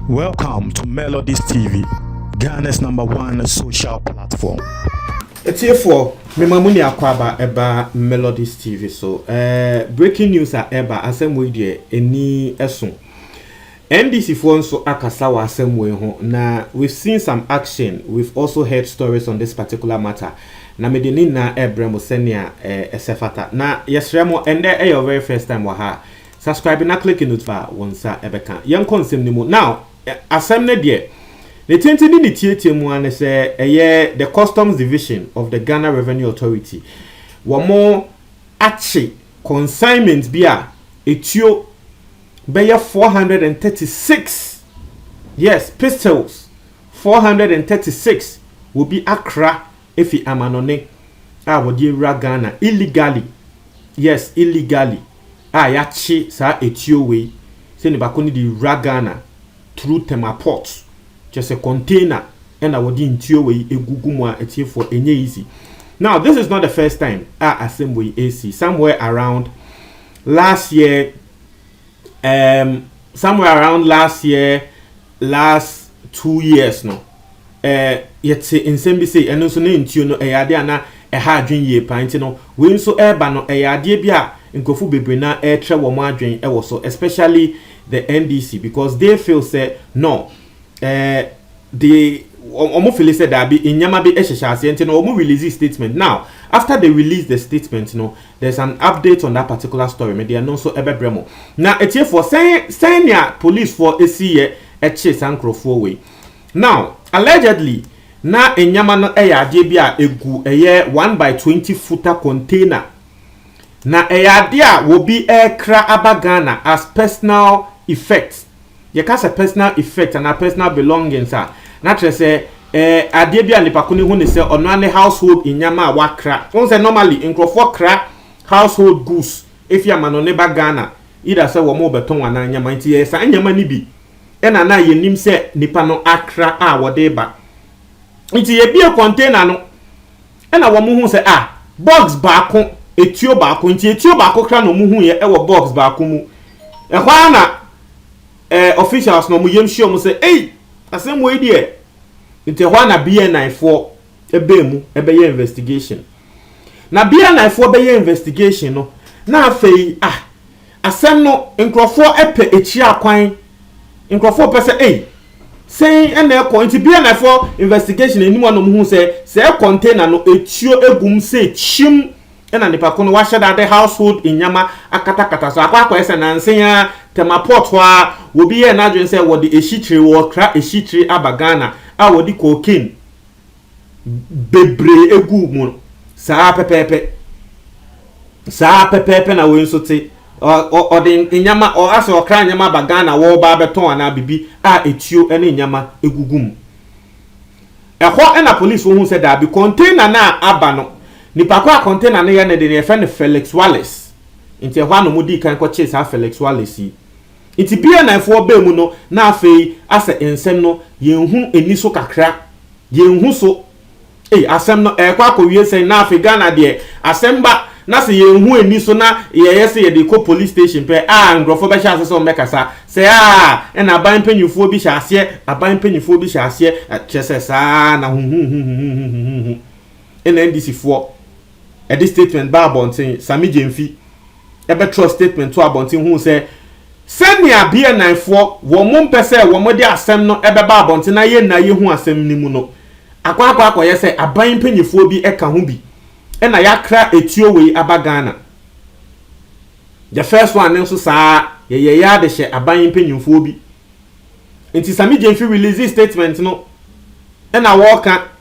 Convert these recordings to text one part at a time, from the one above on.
Welcome to Melodies TV, Ghana's number one social platform. Etiefoɔ, mema mo ni akwaaba ɛba Melodies TV so. Eh, breaking news a ɛba asɛm wei deɛ ɛni ɛso. NDC foɔ nso akasa wɔ asɛm wei ho na we've seen some action, we've also heard stories on this particular matter na mede ne nyinaa ɛrebrɛ mo sɛnea ɛsɛ fata. Na yɛsrɛ mo, ɛnnɛ ɛyɛ wo very first time wɔ ha a, subscribe na click notif a wo nsa ɛbɛka. Yɛnkɔ nsɛm no mu. Now, asɛm no deɛ, ne tenten ne ne tiatia mu ara ne sɛ ɛyɛ the Customs Division of the Ghana Revenue Authority, wɔn akye consignment bi a ɛtuo bɛyɛ four hundred and thirty six yes pistols four hundred and thirty six wɔbi akra efi amanɔne a wɔde awura Ghana illegally yes illegally a yɛakye saa etuo wei sɛ ne baako ne de wura Ghana through Tema port kyɛ sɛ container ɛna wɔde ntuo wei egugu mu a atiefoɔ enye easy now this is not the first time a asɛm wei esi somewhere around last year. um somewhere around last year last two years no eh, yɛte nsɛm bi sei ɛno nso ne ntuo no ɛyɛ adeɛ a na ɛha adwene yie paa nti no wei nso ɛreba no ɛyɛ adeɛ bi a nkurɔfo bebree na ɛretrɛ wɔn adwene ɛwɔ so especially the NDC because they feel sɛ no eh, they wɔn fili sɛ daabi nneɛma bi hyehyɛ aseɛ nti no wɔn release statement now after they release the statement no there's an update on that particular story me deɛ no nso ɛbɛbrɛ mo na etiefoɔ sɛn sɛn nea policefoɔ esi yɛ ɛkye saa nkurɔfoɔ wei now allegedly na nneɛma no ɛyɛ adeɛ bi a egu ɛyɛ one by twenty futa container na ɛyɛ adeɛ a wɔbi ɛrekra aba Ghana as personal effect Yɛka sɛ personal effect anaa personal belongings a, na kyerɛ sɛ ɛɛ adeɛ bi a nipa ko no hu ne sɛ ɔno ara ne household nneɛma a wakra. Wohu sɛ normally nkorɔfoɔ kra household goods fi amanɔne ba Ghana either sɛ wɔn rebɛtɔn anaa nneɛma nti ɛyɛ saa nneɛma no bi na na yɛnim sɛ nipa no akra a wɔde reba. Nti yɛbue container no. Ɛna wɔn hu sɛ ah box baako etuo baako nti etuo baako kra na wɔn hu yɛ ɛwɔ box baako mu ɛhɔ ara na ɛɛ officials na wɔn yam hyia wɔn sɛ ei asɛm wɔ yi deɛ nti ɛhɔ ara na BNI foɔ ɛbɛn mu ɛbɛyɛ investigation na BNI foɔ bɛyɛ investigation no na afei ah Asɛm no nkurɔfoɔ pɛ akyia kwan nkurɔfoɔ pɛ sɛ ei sɛn na ɛkɔ nti BNI foɔ investigation anim a na wɔn hu sɛ sɛɛ container no etuo egum sɛ kyim ɛna nipa ko no wahyɛ da de household nneɛma akatakata so akɔ akɔyɛ sɛ nansen a tɛma port hɔ a obi yɛɛ n'adwene sɛ wɔde ehyikyiri wɔkra ehyikyiri aba Ghana a wɔde cocaine bebree guu mu no, saa ara pɛpɛɛpɛ. Saa ara pɛpɛɛpɛ na wei nso te. Ɔde nneɛma, ɔasɛ ɔkra nneɛma aba Ghana wɔreba abɛtɔn anaa biribi a etuo ne nneɛma gugu mu. Ɛhɔ na polisifoɔ hu sɛ daabi, container no a aba no, nipa ko a container no yɛ ne de no, yɛfrɛ no Felix Wallace. Nti ɛhɔ a na wɔdii kan kɔkyee saa Felix Wallace yi. Ntsi bia na mfowa baa mu no na afei asɛ nsɛm no yennhu enni so kakra, yennhu so. Ei asɛm no ɛrekɔ akɔwie sɛn na afei Ghana deɛ asɛm ba na sɛ yennhu enni so na yɛyɛ sɛ yɛde rekɔ police station pɛ a nkorɔfoɔ bɛhyɛ ase sɛ wɔbɛkasa sɛ aa ɛna aban mpanyinfoɔ bi hyɛ aseɛ aban mpanyinfoɔ bi hyɛ aseɛ kyerɛ sɛ saa ara na huhuhuhuhuhuhuhu ɛna NDC foɔ Ɛde statement baa abɔnten, Sammy Gyamfi bɛtwerɛɛ statement too abɔnten huu sɛ sɛnea BNIfoɔ wɔn mpɛ sɛ wɔde asɛm no bɛba abɔnten na yɛn na yɛhu asɛm no mu no akɔ akɔ akɔyɛ sɛ aban mpanimfoɔ bi ka ho bi na yɛakra etuo wei aba Ghana. The first one no nso saa yɛyɛ yɛ ade hyɛ aban mpanimfoɔ bi. Nti Sammy Gyamfi release statement no na wɔreka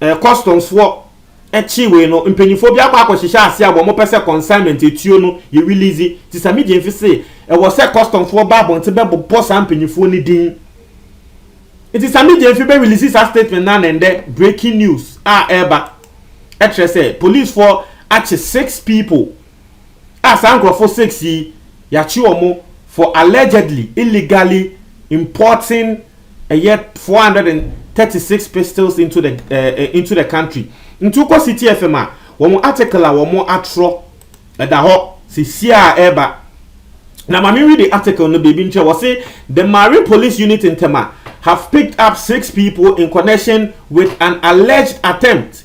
Kɔstomfoɔ kyee wei no, mpanyinfoɔ bi akɔ akɔhyehyɛ ase a wɔpɛ sɛ consignment etuo no yɛ release. Nti Sami Gyamfi se ɛwɔ sɛ kɔstomfoɔ ba abɔnten bɛbobɔ saa mpanyinfoɔ no din. Nti Sami Gyamfi bɛ release saa statement no ana ndɛ breaking news a ɛreba kyerɛ sɛ policefoɔ akye six people a saa nkurɔfo six yi yɛakye wɔn for allegedly illegally importing ɛyɛ four hundred and thirty six pistols into the uh, into the country nti wokɔ city fm a wɔn article a wɔn atorɔ ɛda hɔ sisi a ɛreba na maame read the article no biribi nkyɛn wɔ se the Marie police unit in Tema have picked up six people in connection with an alleged attempt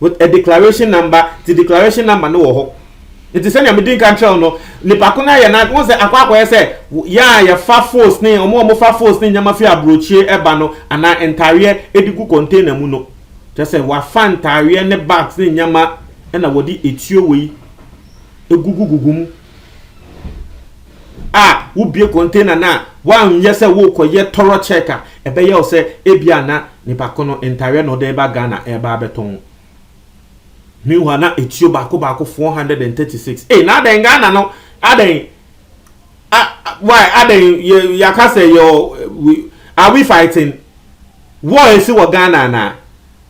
With a declaration number, nti declaration number no wɔ hɔ. Nti sɛnea medi nka nkyerɛ wo no, nipa ko no ayɛ n'ade, wohu sɛ akɔ akɔyɛ sɛ yɛn a yɛfa fos ne wɔn a wɔfa fos ne nneɛma fi aburokyire ba no anaa ntaareɛ de gu container mu no, kyerɛ sɛ wafa ntaareɛ ne bags ne nneɛma na wɔde etuo wei egugugugu mu a wobue container no a woanyɛ sɛ worekɔyɛ tɔrɔ check a ɛbɛyɛ wo sɛ ebia na nipa ko no ntareɛ na ɔde reba Ghana reba abɛtɔn meanwhile na etuo baako baako 436 ee na adɛn Ghana no adɛn why adɛn yɛaka sɛ yɛ are we fighting war esi wɔ Ghana anaa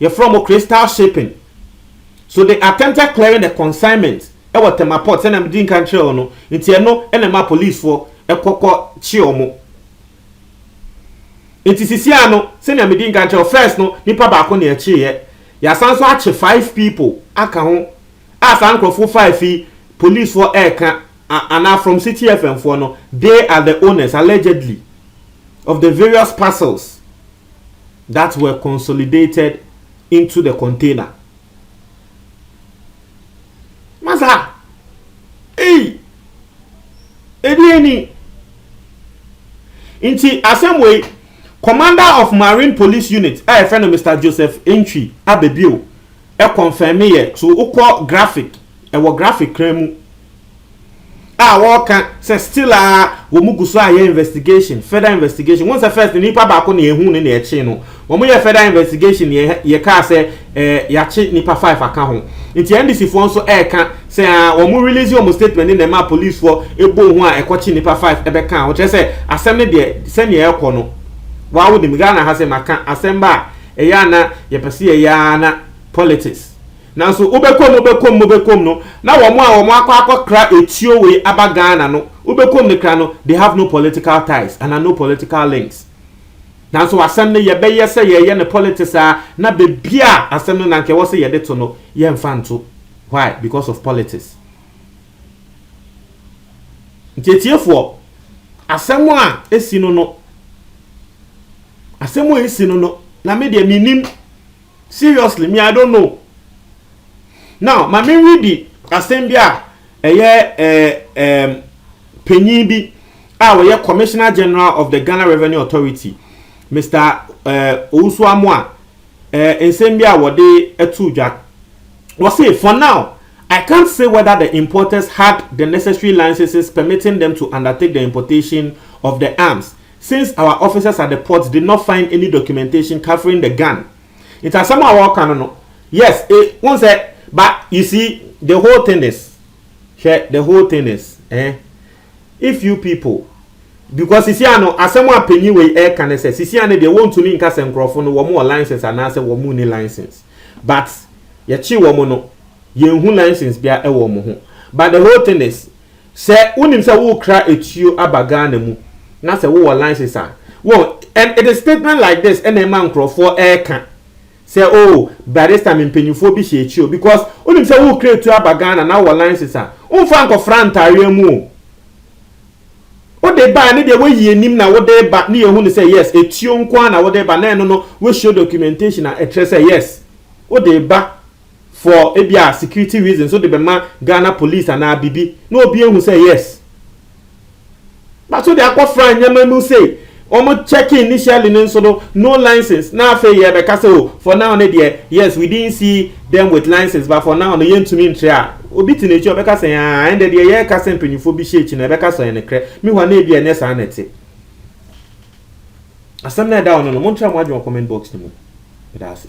Yɛfrɛ wɔn crystal shaping. So they attempted clearing the consignment wɔ Tema port sɛnea mede nkan kyerɛɛ wo no, nti ɛno na ɛmaa policefoɔ kɔ kɔ kye wɔn. Nti sisiaa no sɛnea mede nkan kyerɛɛ wo, first no nipa baako na yɛkyeeɛ, yɛasan nso akye five people aka ho a saa nkorɔfoɔ five yi policefoɔ ɛreka a anaa from Citi FM foɔ no, they are the owners allegedly of the various parcels. that were consolidated into the container. Masa, ei, ɛdeɛ ni. Nti asɛm wei, commander of marine police unit a yɛfrɛ no Mr. Joseph Entwi abɛbio ɛkɔnfɛme yɛ so wokɔ graphic ɛwɔ graphic kran mu. a wɔka sɛ still a wɔn gu so a yɛ investigation further investigation wɔn sɛ first no nipa baako na ehu ne na ɛkye no wɔn yɛ further investigation yɛ yɛ kaa sɛ ɛɛ yakye nipa five aka ho nti ndc foɔ nso ɛɛka sɛ a wɔn release wɔn statement ne na ɛma police foɔ ebo ho a ɛkɔkye nipa five ɛbɛ ka ho kyerɛ sɛ asɛm ne deɛ sɛnea ɛkɔ no wɔawo nim ghana ha sɛ maka asɛm ba a ɛyɛ ana yɛpɛ sɛ yɛyɛ ana politics. Nanso wobɛkɔ mu wobɛkɔ mu wobɛkɔ mu no, na wɔn a wɔn akɔ akɔkra etuo wei aba Ghana no, wobɛkɔ mu no kra no, they have no political ties anaa no political links. Nanso asɛm no yɛbɛyɛ sɛ yɛreyɛ no politics ara na baabi a asɛm no na anka ɛwɔ sɛ yɛde to no, yɛmfa nto. Why? Because of politics. Nti atiefoɔ, asɛm a esi no no, asɛm a esi no no, na me deɛ menim. Seriously me I don't know now ma me read asɛm bi a ɛyɛ ɛɛm panyin bi a wɔyɛ commissioner general of the Ghana revenue authority Mister ɛɛ Owusu Amoa ɛɛ nsɛm bi a wɔde ɛto dwa wɔ se for now I can't say whether the importers had the necessary licenses permitting them to undertake the importation of the arms. Since our officers at the port did not find any documentation covering the gun nti asɛm a wɔka no no yes e wohu sɛ but you see the whole thing is hwɛ the whole thing is eh if you people because sisi ano asɛm a panyin wei ɛka ne sɛ sisi ano deɛ wɔntumi nka sɛ nkurɔfo no wɔn wɔ license anaasɛ wɔn ni license but yɛkye wɔn no yɛnhu license bia ɛwɔ wɔn ho but the whole thing is Sɛ wonim sɛ worekra atuo aba Ghana mu na sɛ wowɔ license a, woahu, and it is statement like this na ɛma nkorɔfoɔ reka sɛ oh, by this time mpanimfoɔ bi hyɛ akyi o, because wonim sɛ worekra atuo aba Ghana na wowɔ license a, womfa nkɔfra ntaareɛ mu o. Wode ba a ne deɛ woayi anim na wode reba ne yɛhu no sɛ yes, atuo nko ara na wode reba na ɛno no, wo show documentation a ɛkyerɛ sɛ yes, wode reba. for ebia security reasons wode bɛma Ghana police anaa biribi na obi ahu sɛ yes but wode akɔfra nneɛma mu sei wɔn check initially no nso no no license na afei yɛbɛka sɛ o for now no deɛ yes we didn't see them with license but for now no yɛntumi nkyerɛ a obi te n'akyi ɔbɛka sɛ aa ɛnde deɛ yɛreka sɛ mpanyinfoɔ bi hyɛ akyi na ɛbɛka sɛ ɛne korɛ mi hɔ a na ebi ɛnyɛ saa na ɛte asɛm na ɛda hɔ no no montra mo adwene wɔ comment box no mu ɛda ase.